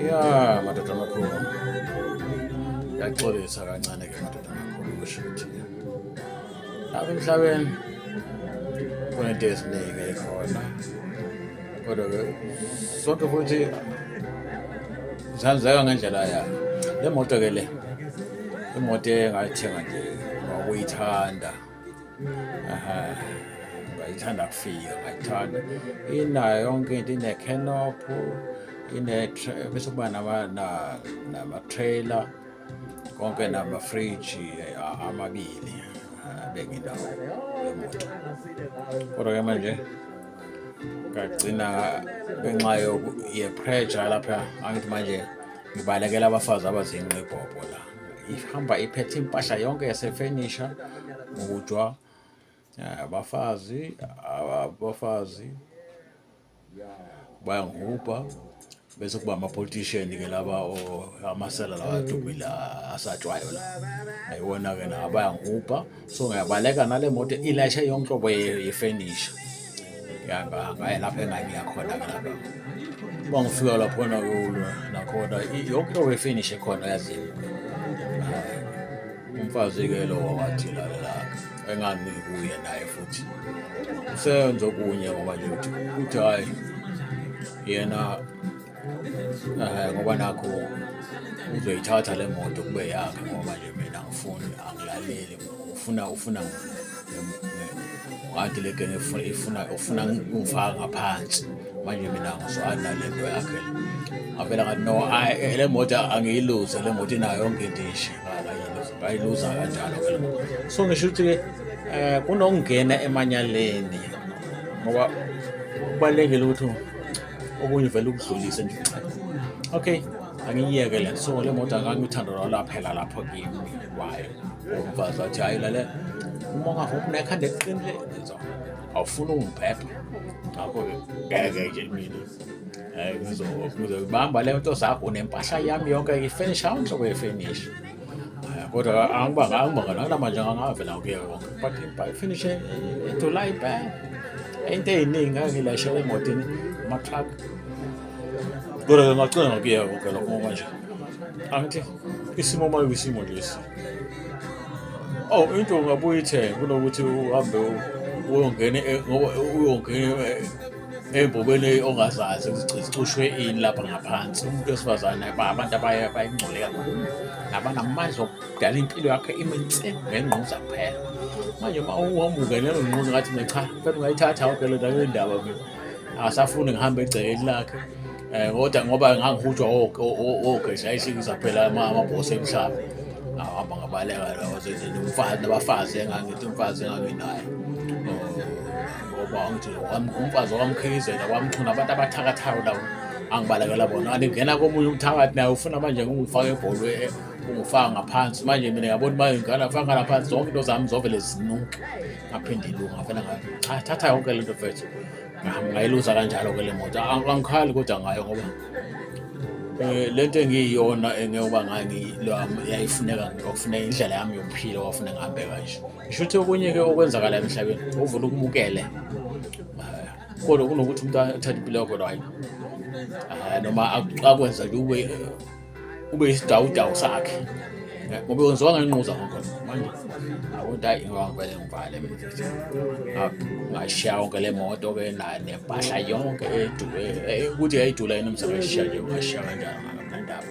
ya madoda amakhulu yaxolisa kancane ke madoda amakhulu kusho ukuthi apha emhlabeni kunento eziningi ekhona kodwa ke sonke futhi zihambiseka ngendlela yayo le moto ke le imoto engayithenga nje ngokuyithanda ngayithanda kufika ngayithanda inayo yonke into inekenophu bese kuba nama-trailer konke namafriji amabili benginawo emoto kodwa ke manje ngagcina ngenxa yepressure lapha angithi manje ngibalekela abafazi abazinqibhobho la ihamba iphethe impahla yonke yasefenisha ngokujwa eh, abafazi abafazi bayangihubha bese kuba ama-politician ke laba amasela lawa adumile asatshwayo la ayiwona-ke na abayangihubha so ngiyabaleka nale moto ilayishe yonke nhlobo yefenisha ngaye lapho engangiya khona ke lapho uma ngifika laphona kulwa nakhona yonke into wefinishe khona yazini umfazi-ke lowo wathi lalela engangikuye naye futhi usenze okunye ngoba nje uthi hhayi yena Eh, ngoba nakho uzoyithatha le moto kube yakhe ngoba nje mina ngifuni angilaleli ufuna ufuna ngathi le genge ifuna ufuna ngifaka ngaphansi manje mina ngizwana le nto yakhe ngavela ngathi no eh, le moto angiyiluze le moto inayo yonke into ishe ngayiluza kanjalo so ngisho ukuthi-ke eh, um kunokungena emanyaleni ngoba kubalulekile ukuthi okunye vele ukudlulise nje okay angiyiyeke le so le moto akanye uthando lwalo aphela lapho kimi kwayo umfazi wathi hayi lale uma ungavuma unekhanda eqinile so awufuni ungibhebha ngakho-ke ngeke nje mina um ngizobamba le nto zakho unempahla yami yonke ifenisha awunhlobo yefenisha Eh, kodwa angibanga angibanga nakunamanje angavela kuye konke but ifinishe ithula ibhang into ey'ningi ngangilashe emotini ama-truck kodwa ke ngacela ngokuye konke lokho ngoba nje angithi isimo uma kuyisimo lesi oh into ungabuye ithenge kunokuthi uhambe uyongena e, ngoba uyongena e, ey'mbokweni ongazazi ukuthi zicushwe ini lapha ngaphansi umuntu wesifazane abantu abaye bayingcole kakhulu nabanamandla okudala impilo yakhe iminse ngengquza kuphela manje uma uwamuke leyo ngquza ngathi mina cha fela ungayithatha awuke le ndawo yendaba mina akasafuni ngihambe egcekeni lakhe um kodwa ngoba ngangihutshwa ogeza ayisikiza phela amabhosi emhlaba ahamba ngabaleka lawo zezini umfazi nabafazi engangithi umfazi enganginayo ngoba ngithi umfazi wamkhiyizela wamchuna abantu abathakathayo labo angibalekela bona andingena komunye umthakathi naye ufuna manje ngingifake ebholwe eh, ungifaka ngaphansi manje mina yabona uma ngingana faka ngaphansi zonke into zami zovele zinuke ngaphinde ilunga vele ngathi cha thatha yonke le nto fethu ngayiluza kanjalo ke le moto angikhali kodwa ngayo ngoba Eh, lento engiyiyona engiyoba ngani yayifuneka kwakufuneka indlela yami yokuphila kwakufuneka ngihambe kanje ngisho ukuthi okunye-ke okwenzakala emhlabeni uvula ukubukele kodwa kunokuthi umuntu athathe impilo yakho right ah, noma akwenza nje ube ube isidawudawu sakhe ngoba wenziwa ngenquza konke manje awuthi hayi ngivele ngivale ngashiya yonke le moto ke nempahla yonke edule eh, ukuthi yayidula yini umsebenzi sishiya nje ngashiya kanjani nganamnandaba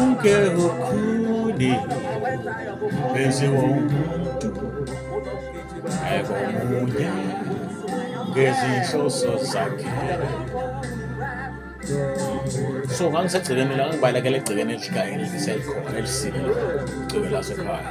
uke ukhuni benziwa umuntu ekomunye ngezinhloso zakhe so ngangisegcikeni la ngibalekela egcikeni elikayo elisekhona elisile igcike lasekhaya